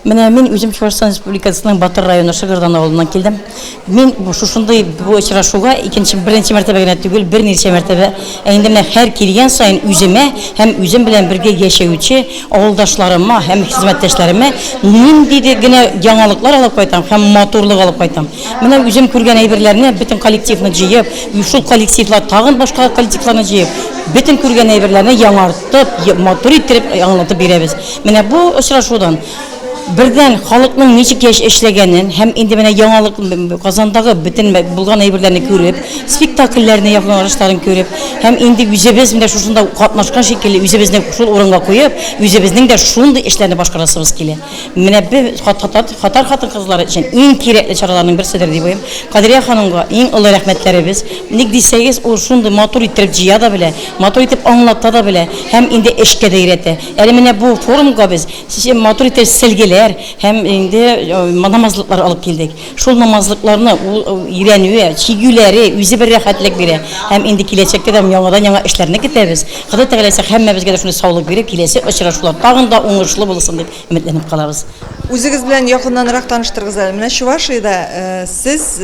Менә мин үзем Чувашстан Республикасының Батыр районы Шыгырдан авылыннан килдем. Мин шушындый бу очрашуга икенче беренче мәртәбә генә түгел, берничә мәртәбә ә инде менә һәр килгән саен үземә һәм үзем белән бергә яшәүче авылдашларыма һәм хезмәттәшләремә ниндидер генә яңалыклар алып кайтам һәм матурлык алып кайтам. Менә үзем күргән әйберләрне бөтен коллективны җыеп, шул коллективлар тагын башка коллективларны җыеп, бөтен күргән әйберләрне яңартып, матур иттереп аңлатып бирәбез. Менә бу очрашудан бердән халыкның ничек яш эшләгәнен һәм инде менә яңалык Казандагы бөтен булган әйберләрне күреп, спектакльләрне якланышларын күреп һәм инде үзебез менә шушында катнашкан шикелле үзебезне шул урынга куеп, үзебезнең дә шундый эшләрне башкарасыбыз килә. Менә без Хатар хатын кызлары өчен иң кирәкле чараларның берседер дип уйлыйм. Кадрия ханымга иң олы рәхмәтләребез. Ник дисәгез, ул шундый матур иттереп җыя да белә, матур итеп аңлата да белә һәм инде эшкә дә өйрәтә. Әле менә бу форумга без матур итеп сәлгеләр һәм инде намазлыклар алып килдек. Шул намазлыкларны ул өйрәнүе, чигүләре үзе бер рәхәтлек бирә. Һәм инде киләчәктә дә яңадан яңа эшләрне көтәбез. Ходай Тәгаләсе һәммәбезгә дә шундый саулык биреп, киләсе очрашулар тагын да уңышлы булсын дип өметләнеп калабыз. Үзегез белән якыннанрак таныштырыгыз әле. Менә Чувашиядә сез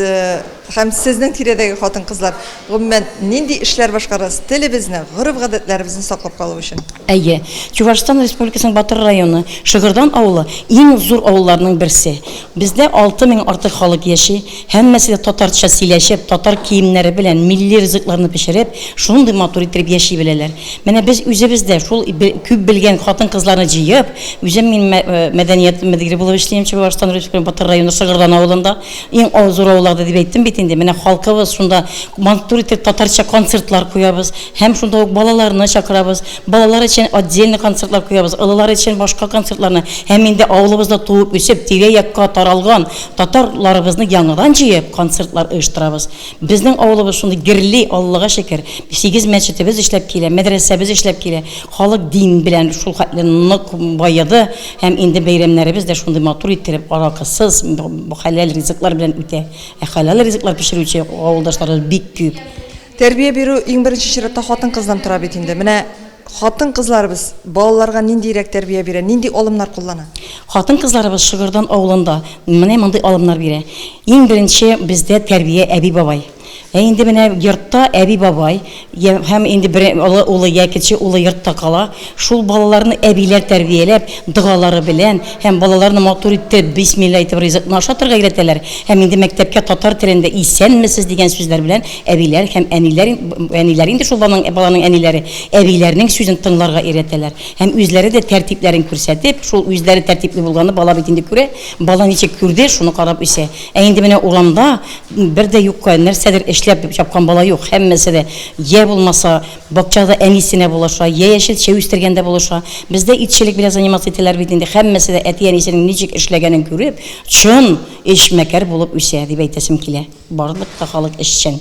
Һәм сезнең тирәдәге хатын-кызлар, гомумән, нинди эшләр башкарасыз телебезне, гореф-гадәтләребезне саклап калу өчен? Әйе. Чувашстан Республикасының Батыр районы, Шыгырдан авылы, иң зур авылларның берсе. Бездә алты мең артык халык яши. Һәммәсе дә татарча сөйләшеп, татар киемнәре белән, милли ризыкларны пешереп, шундый матур иттереп яши беләләр. Менә без үзебез дә шул күп белгән хатын-кызларны җыеп, үзем мин мәдәният мөдире булып эшлим Чувашстан Республикасының Батыр районы, Шыгырдан авылында. Иң авыр зур авылларда дип әйттем бит инде. Менә халкыбыз шунда матур итеп татарча концертлар куябыз һәм шунда ук балаларны чакырабыз. Балалар өчен отдельный концертлар куябыз, олылар өчен башка концертларны һәм инде авылыбызда туып үсеп, тирә-якка таралган татар ларыбызны яңадан җыеп, концертлар оештырабыз. Безнең авылыбыз шундый герли, Аллага шөкер. Сигез мәчетебез эшләп килә, мәдрәсәбез эшләп килә. Халык дин белән шул хәтле нык баеды. Һәм инде бәйрәмнәребез дә шундый матур иттереп, аракысыз, хәләл ризыклар белән үтә. Ә хәләл ризыклар пешерүче авылдашларыбыз бик күп. Тәрбия бирү иң беренче чиратта хатын-кыздан тора бит инде. Менә хатын-кызларыбыз балаларга ниндирәк тәрбия бирә, нинди алымнар куллана? Хатын-кызларыбыз Шыгырдан авылында менә мондый алымнар бирә. Иң беренче бездә тәрбия әби-бабай. Ә инде менә йортта әби-бабай һәм инде бер олы улы я кече улы йортта кала, шул балаларны әбиләр тәрбияләп, догалары белән һәм балаларны матур итеп, бисмилла әйтеп ризыкны ашатырга өйрәтәләр һәм инде мәктәпкә татар телендә Исәнмесез дигән сүзләр белән әбиләр һәм әниләр, әниләр инде шул баланың, баланың әниләре, әбиләрнең сүзен тыңларга өйрәтәләр һәм үзләре дә тәртипләрен күрсәтеп, шул үзләре тәртипле булганны бала бит инде күрә, бала ничек күрде, шуны карап үсә. Ә инде менә урамда Бер дә юкка, нәрсәдер эшләп җапкан бала юк. Һәммәсе дә йә булмаса бакчада әнисенә булыша, йә яшел чәй үстергәндә булыша. Бездә итчелек белән заниматься итәләр бит инде. Һәммәсе дә әти-әнисенең ничек эшләгәнен күреп, чын эшмәкәр булып үсә, дип әйтәсем килә. Барлык та халык эшчән.